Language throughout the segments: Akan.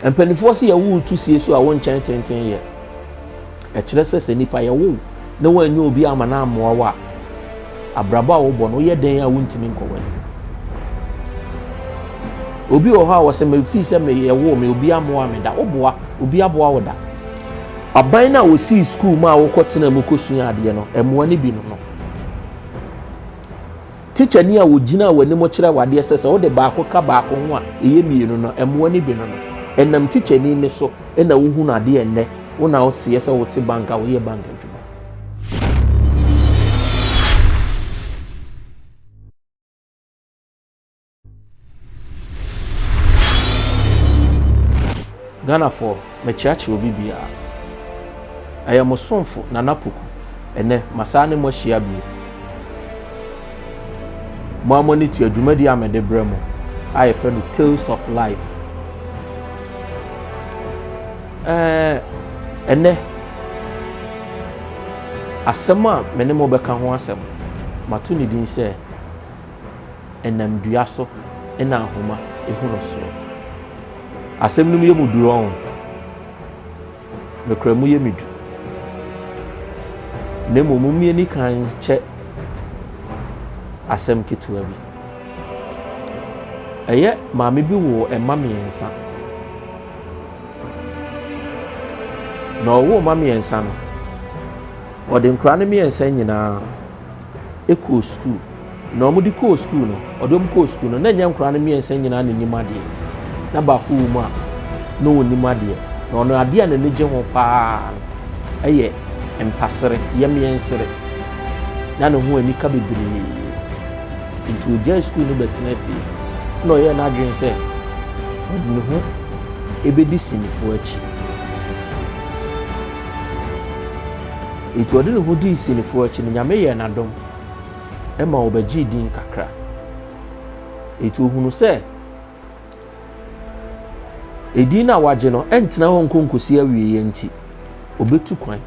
Mpanimfoɔ se yɛwo wo tu sie so a wonkyɛn tenten yɛ. Ɛkyerɛ sɛ sɛ nipa yɛwo wo na woanyɛ obi ama no ammoa wo a, abrabɔ a wobɔ no woyɛ dɛn a wontumi nkɔ w'anim. Obi wɔ hɔ a wɔsɛ mefii sɛ meyɛwo me obi ammoa me da, woboa obi aboa wo da. Aban no a wɔsii sukuu mu a wokɔtena mu kɔsua adeɛ no, mmoa no bi no no. Tikyani a ɔgyinaa w'anim kyerɛɛ wo adeɛ sɛ sɛ wode baako ka baako ho a ɛyɛ mmienu no, mmoa no bi no no. Ɛnam tikyani nne so na wohunu adeɛ ɛnnɛ wo na woteɛ sɛ wote bank a woyɛ bank adwuma. Ghanafoɔ, mɛkyeakyea obi biara. Ɛyɛ mo somfo Nana Poku. Ɛnɛ, masan ne mo ahyia bio. Mo a mo ani tua dwumadi a mede brɛ mo a yɛfrɛ no Tales of Life. Ɛɛ, ɛnɛ, asɛm a me ne mo bɛka ho asɛm, mato ne din sɛ ɛnam dua so na ahoma hu no soɔ. Asɛm no mu yɛ mu duru ɔn. Nokorɛ mu yɛ me du. Na mmom mo mmie ni kan kyɛ asɛm ketewa bi. Ɛyɛ maame bi wɔ ɛma mmiɛnsa. Na ɔwɔ mma mmiɛnsa no, ɔde nkora no mmiɛnsa nyinaa. kɔɔ sukuu. Na wɔn de kɔɔ sukuu no, ɔde wɔn kɔɔ sukuu no, na ɛnyɛ nkwadaa no mmiɛnsa nyinaa na ɛnim adeɛ. Na baako wɔ mu a, na ɔnim adeɛ. Na ɔno adeɛ a n'ani gye ho paa no yɛ mpasere, yɛmyɛnsere. Na ne ho anika bebree. Nti ɔgyae sukuu no bɛtena fie. Na ɔyɛɛ n'adwene sɛ ɔde ne ho ɛbɛdi sinifoɔ akyi. Enti ɔde ne ho dii Sinifoɔ akyi no, Nyame yɛɛ no adom ma ɔbɛgyee din kakra. Enti ɔhunu sɛ edin no a wagye no ɛntena hɔ nko nkosi awieɛ nti, ɔbɛtu kwan.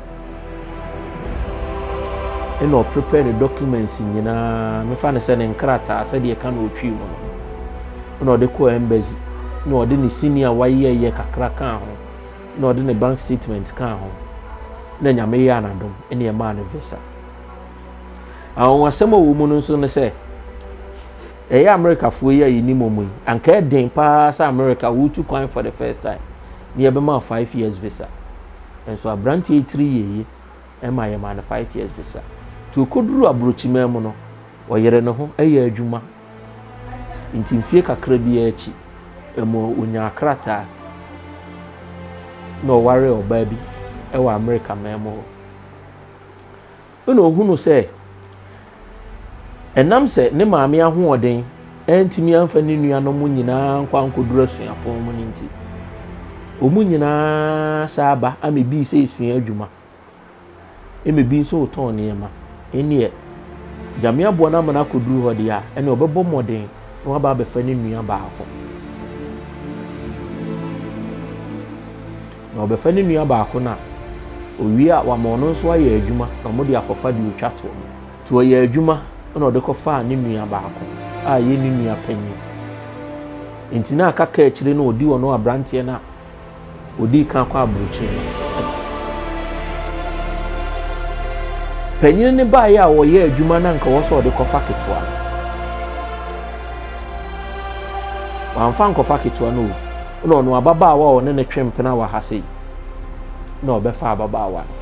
Ɛna ɔprepare ne documents nyinaa, mefa no sɛ ne nkrataa sɛdeɛ ɛka na ɔtwii mu no. Ɛna ɔde kɔɔ embassy, na ɔde ne sini a wayɛyɛ kakra kaa ho. na ɔde ne bank statement kaa ho na nyame yɛɛ anadom ne ɛmaa no visa awonwasɛm a wɔ mu no nso ne sɛ ɛyɛ amerikafoɔ yi a yɛnim ɔmu yi anka ɛden paa sɛ amerika wotu kwan for the first time ne yɛbɛma 5 years visa nso aberanteɛ tiri yɛyi ɛma yɛma no 5 years visa nti ɔkɔduru aborɔkyimaa mu no ɔyere ne ho ɛyɛ adwuma Enti mfeɛ kakra bi ara akyi, ɛma ɔnyaa krataa, na ɔwaree ɔbaa bi wɔ Amerika man mu hɔ. Ɛna ɔhunu sɛ, ɛnam sɛ ne maame ahoɔden antumi amfa ne nuanom nyinaa nkɔ ankɔduru asuapɔn mu no nti, wɔn nyinaa san ba ama ebi sɛ esua adwuma. ɛna ebi nso retɔn nneɛma ɛneɛ nyame aboa no ama no akɔduru hɔ deɛ a ɛna ɔbɛbɔ mmɔden na waba abɛfa ne nua baako na ɔbɛfa ne nua baako no a owie a wama ɔno nso ayɛ adwuma na wɔde akɔfa deɛ ɔtwa toɔ no nti ɔyɛ adwuma na ɔde kɔfaa ne nua baako a ɛyɛ ne nua panyin nti na aka kaa akyire no ɔdi ɔno aberanteɛ no a Wɔdii kan kɔɔ aburokyiri no. Panyin no baeɛ a wɔyɛ adwuma na nka wɔ sɛ ɔde kɔfa ketewa no. Wamfa nkɔfa ketewa no o. Na ɔno ababaawa a ɔne ne twe mpena wɔ ha sei. Na ɔbɛfa ababaawa no.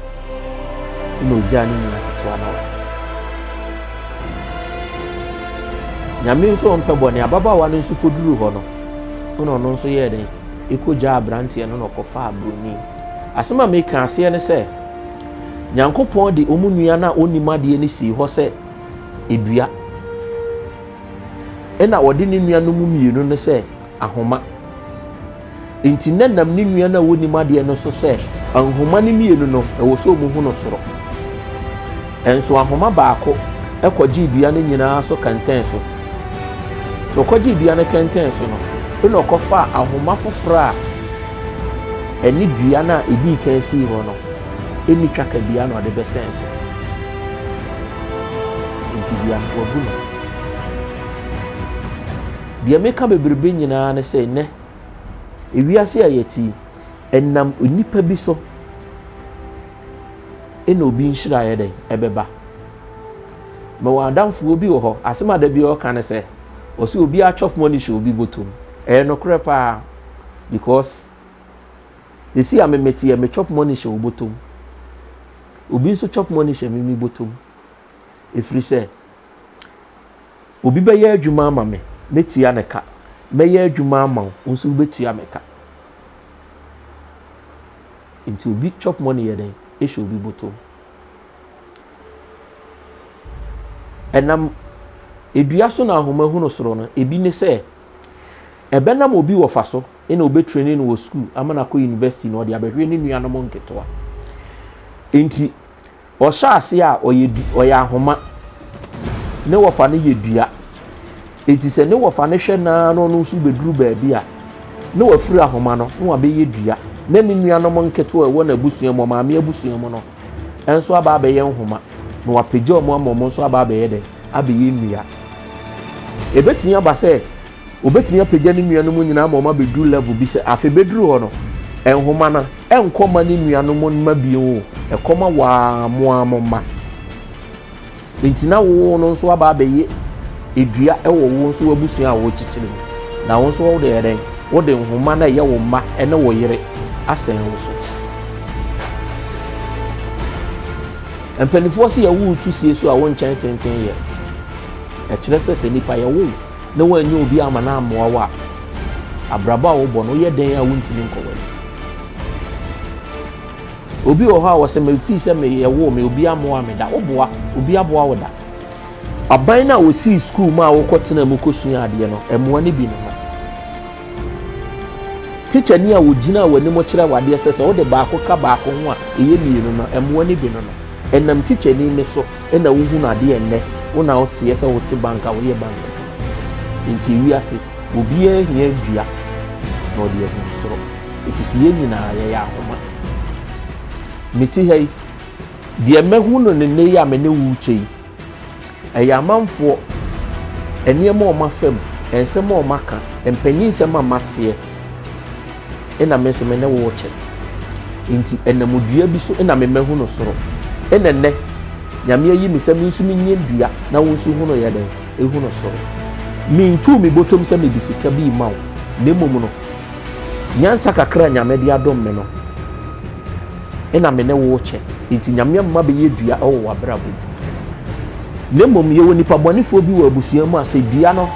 Na ɔgyaa ne nua ketewa no wɔ. Nyame nso ɔmpɛ bɔne. Ababaawa no nso kɔduru hɔ no. Na ɔno nso yɛɛ dɛn? kɔgyaa aberanteɛ no na ɔkɔfaa buroni. Asɛm a meka aseɛ ne sɛ, Nyankopɔn de wɔn nua no a ɔnnim adeɛ no sii hɔ sɛ edua, ɛna ɔde ne nua no mu mmienu no sɛ ahoma. Nti na nam ne nua no a ɔnnim adeɛ no so sɛ ahoma no mmienu no ɛwɔ sɛ wɔn ho no soro. Nso ahoma baako kɔgyee dua no nyinaa so kɛntɛn so. Nti ɔkɔgyee dua no kɛntɛn so no, ɛna ɔkɔfaa ahoma foforɔ a ɛne dua no a ɛdii kan sii hɔ no ɛni twa ka dua na ɔde bɛsɛn so. Nti dua no wabu no. Deɛ meka bebrebe nyinaa ne sɛ nnɛ, ewiase a yɛte yi, ɛnam nnipa bi so na obi nhyira yɛ dɛn ɛbɛba mewɔ adamfoɔ bi wɔ hɔ asɛm a da bi ɔka ne sɛ ɔsɛ obi atwɔf mɔ ne hyɛ obi bɔtom ɛyɛ nokorɛ paa because ɛsi a memeteɛ metwɔp mɔ ne hyɛ wobɔtom obi nso twɔp mɔ ne hyɛ mimi bɔtom ɛfiri sɛ Obi bɛyɛ adwuma ama me, mɛtua no ka. Mɛyɛ adwuma ama wo, wo nso wobɛtua me ka. Nti obi chop money yɛ dɛn? Ɛhyɛ obi boto. Ɛnam edua so na ahoma hunu soro no, ebi ne sɛ ɛbɛnam obi wɔfa so na wɔbɛtreni no wɔ sukuu ama no akɔ university na ɔde abɛhwɛ ne nuanom nketewa. Nti Ɔhyɛ aseɛ a, ɔyɛ, du, ɔyɛ ahoma. Ne wɔfa no yɛ dua. Enti sɛ ne wɔfa no hwɛ naa na ɔno nso bɛduru baabi a, na wafiri ahoma no na wabɛyɛ dua. Na ne nuanom nketewa a ɛwɔ n'abusua mu, ɔmaame abusua mu no, nso aba abɛyɛ nhoma. Na wapagya wɔn ama wɔn nso aba abɛyɛ dɛ? Abɛyɛ nnua. Ɛbɛtumi aba sɛ Obetumi apagya ne nuanom nyinaa ma wɔabɛduru level bi sɛ afei bɛduru hɔ no, nhoma no ɛnkɔ ma ne nuanom mma bio o, ɛkɔ ma waa mo ara mo mma. Nti na wo no nso aba abɛyɛ edua wɔ wo nso w'abusua a wɔrekyekyere mu. Na wo nso wode yɛ dɛn? Wode nhoma no a ɛyɛ wo mma ne wo yere asɛn wo so. Mpanimfoɔ sɛ yɛwo tu sie so a wo nkyɛn tenten yɛ. Ɛkyerɛ sɛ sɛ nipa yɛwo na wɔanyɛ obi ama no ammoa wo a, abrabɔ a wobɔ no woyɛ dɛn a wontumi nkɔ w'ani? Obi wɔ hɔ a wɔsɛ mefii sɛ meyɛ wo me obi ammoa me da woboa obi aboa wo da aban no a wɔsii sukuu mu a wokɔtena mu kɔsua adeɛ no mmoa no bi ne ho tikya ni a wɔgyina w'anim kyerɛ wadeɛ sɛ sɛ wode baako ka baako ho a ɛyɛ mmienu no mmoa no bi no no ɛnam tikya ni ne so Nna wohu no adeɛ nnɛ wo na wo seɛ sɛ wo te bank a wo yɛ bank adwuma nti ewiase obiaa hia dua na ɔde ahunu soro efisɛ yɛn nyinaa yɛyɛ ahoma me te ha yi deɛ mahu no ne nnɛ yi a me ne wo rekyɛ yi ɛyɛ amanfoɔ nneɛma a wɔn afam nsɛm a wɔn aka mpanyin nsɛm a mateɛ na me nso me ne wo rekyɛ. Enti ɛnamudua bi so na memahu no soro. Ɛna nnɛ, Nyame ayi me sɛ me nso menyɛ dua na wo nso hu no yɛ dɛn? Ehu no soro. Mentuu me bɔtɔm sɛ mede sika bi rema wo, na mmom no, nyansa kakra a Nyame de adom me no, ɛna me ne wo rekyɛ. Enti Nyame ama bɛyɛ dua wɔ w'abrabɔ mu. Na mmom yɛwɔ nipa bɔnefoɔ bi wɔ abusua mu a sɛ dua no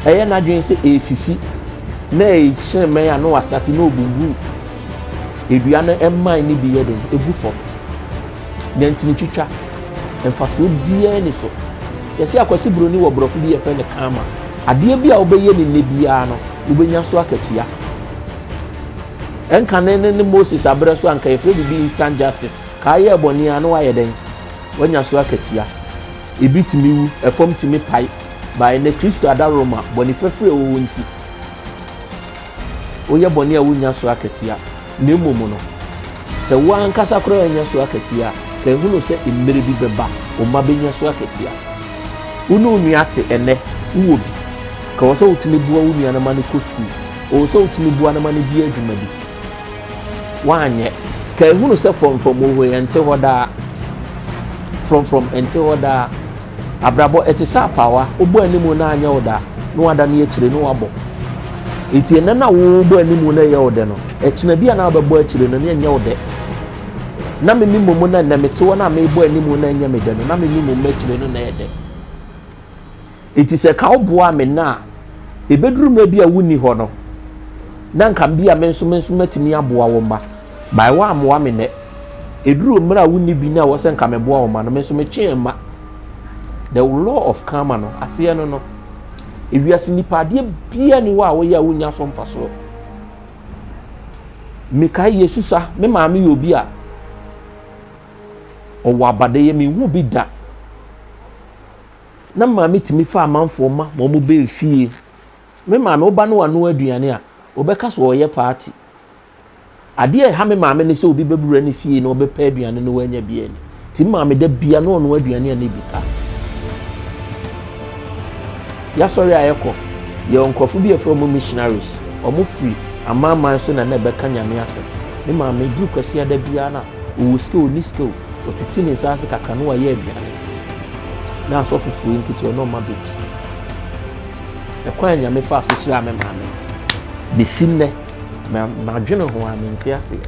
ɛyɛ n'adwene sɛ ɛrefifi na ɛhyerɛn mɛn a na wasate na ɔbubu edua no mman no bi yɛ den ɛgu fam deɛ ntini twitwa mfasoɔ biara ni so yɛsɛ akwasi buroni wɔ borɔfo bi yɛfrɛ no kama adeɛ bi a wobɛyɛ ne nnɛ biara no wobɛnya so akatua ɛnka ne ne moses aberɛ so anka yɛfrɛ biribi instant justice kaa yɛ bɔne a na wayɛ dɛn wanya so akatua Ebi tumi wu, ɛfam tumi pae, bae na Kristo adaworoma, bɔne fafiri a ɛwɔ hɔ nti, woyɛ bɔne a wunnya so akatua. Na mmom no, sɛ wo ankasa koraa annya so akatua a, kan hu no sɛ mmere bi bɛba, wo mma benya so akatua. Wo ne wo nua te ɛnnɛ, wowɔ bi. Ka wɔ sɛ wotumi boa wo nua no ma no kɔ sukuu. Ɔwɔ sɛ wotumi boa no ma no di adwuma bi. woanyɛ. Kae hunu sɛ frɔmfrɔm wɔ hɔ yi, ɛnte hɔ daa. Frɔmfrɔm ɛnte hɔ daa. Abrabɔ ɛte sɛ apaawa, wobɔ anim na anyɛ wo da, na wada ne akyire na wabɔ. Eti ɛnɛ na wobɔ anim na ɛyɛ wo dɛ no, ɛkyina bi a na wabɛbɔ akyire no na ɛnyɛ wo dɛ. Na me mi mmom na ɛnɛ mete hɔ na mebɔ anim na ɛnyɛ me dɛ no, na me mi mmom akyire no na ɛyɛ dɛ. Enti sɛ ka woboaa me nnɛ a, ebeduru mmerɛ bi a wonni hɔ no, na nka bi a me nso me nso mɛtumi aboa wo mma. Bae woammoa me nnɛ. Eduruu mmerɛ a wonni bi no a ɛwɔ sɛ nka meboa wo mma no, me nso metwee mma. The law of karma no, aseɛ no no, ewiase nipa adeɛ biara ni hɔ a woyɛ a wonnya so mfasoɔ. Mekae Yesusa, me maame yɛ obi a ɔwɔ abadɛyɛ, menhu bi da. na maame tumi fa amanfoɔ ma ma wɔn bɛɛ fie me maame wo ba no wano aduane a wɔbɛka so ɔyɛ paati adeɛ a ɛha me maame ne sɛ obi bɛbura ne fie na ɔbɛpɛ aduane no wanya bi ani ti maame da bia na ɔno aduane a ne bi ka yɛasɔre a yɛkɔ yɛ nkurɔfo bi ɛfrɛ wɔn missionaries wɔn firi amanaman so na na ɛbɛka nyame asɛm ne maame duru kwasi ada biara na Ɔwɔ sika, ɔnni sika o, ɔtete ne nsa ase kakra na wayɛ aduane na asɔfo firi nketewa na ɔma bɛdi. Ɛkwan a Nyame faa so hyiraa me maame no, bɛsi nnɛ madwene ho a mente aseɛ.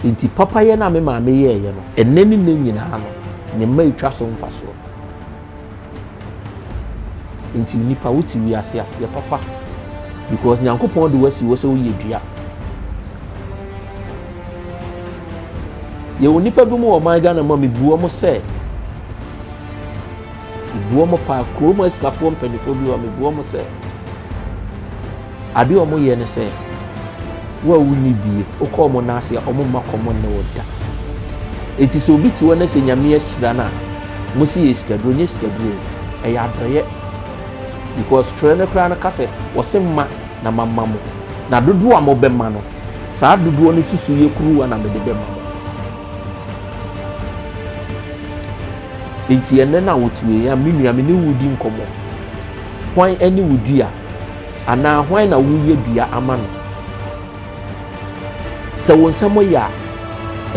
Nti papayɛ no a me maame yɛɛyɛ no, ɛnnɛ ne nnɛ nyinaa no, ne mma ɛtwa so mfasoɔ. Nti nipa wo ti wiase a yɛ papa because nyankopɔn de wasi wɔ sɛ woyɛ dua. Yɛwɔ nipa bi mu wɔ ɔman Ghana mu a mebu wɔn sɛ mebu wɔn paa kurom asikafoɔ mpanimfoɔ bi wɔ mebu wɔn sɛ Ade a wɔyɛ ne sɛ, wo a wonni bie, wokɔ wɔn nan ase a, wɔmma kɔm nne wo da. Enti sɛ obi te hɔ na sɛ Nyame ahyira no a, mosi yɛ sikaduro, nyɛ sikaduro, ɛyɛ adɔyɛ. Because twerɛ no koraa no ka sɛ, wɔse mma na mamma mo, na dodoɔ a mobɛma no, saa dodoɔ no susuiɛ kuruwa na mede bɛma mo. Enti ɛnɛ no a wɔtueɛ a, me nua, me ne wo redi nkɔmmɔ, hwan ne wo dua? Anaa hwan na woreyɛ dua ama no? Sɛ wo nsɛm yɛ a,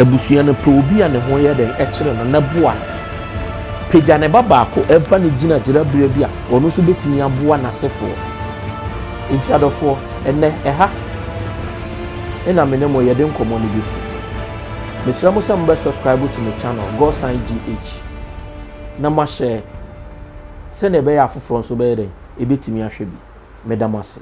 abusua no pɛ obi a ne ho yɛ dɛn kyerɛ no na boa no. Pagya ne ba baako fa no gyina gyinaberɛ bi a ɔno nso bɛtumi aboa n'asefoɔ. Nti adɔfoɔ, ɛnɛ ɛha na me ne mo yɛde nkɔmmɔ no bɛsi. Mesrɛ mo sɛ mobɛ subscribe to me channel Godson GH na moahyɛ sɛdeɛ ɛbɛyɛ afoforɔ nso bɛyɛ dɛn ebetumi ahwɛ bi. Meda mo ase.